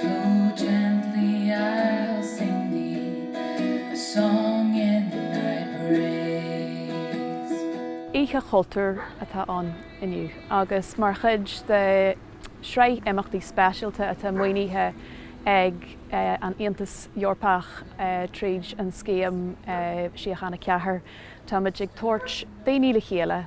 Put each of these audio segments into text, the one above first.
Flow gently I'll sing thee a song in thy praise. Oíche Chultúir atá ann inniu agus mar chuid de shraith imeachtaí speisialta atá maoinithe ag an Aontas Eorpach tríd an scéim Síochána Ceathair, táimid ag tabhairt daoine le chéile,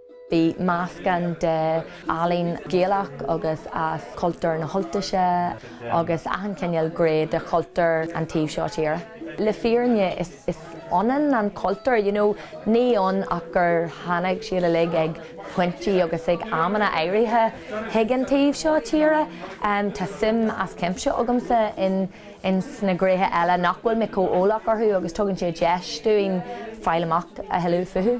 Bhí meascán de ealaín Gaelach agus as cultúr na hUltaise agus achan chineál gré de chultúr an taobh seo tíre. Le fírinne is is ionann an cultúr, you know, níl ann ach gur tháinig siad uilig ag pointí agus ag amanna áirithe chuig an taobh seo tíre. Tá suim as cuimse agamsa in in sna gréithe eile nach bhfuil mé chomh eolach orthu agus tugann sé deis dúinn fáil amach a thuilleadh fúthu.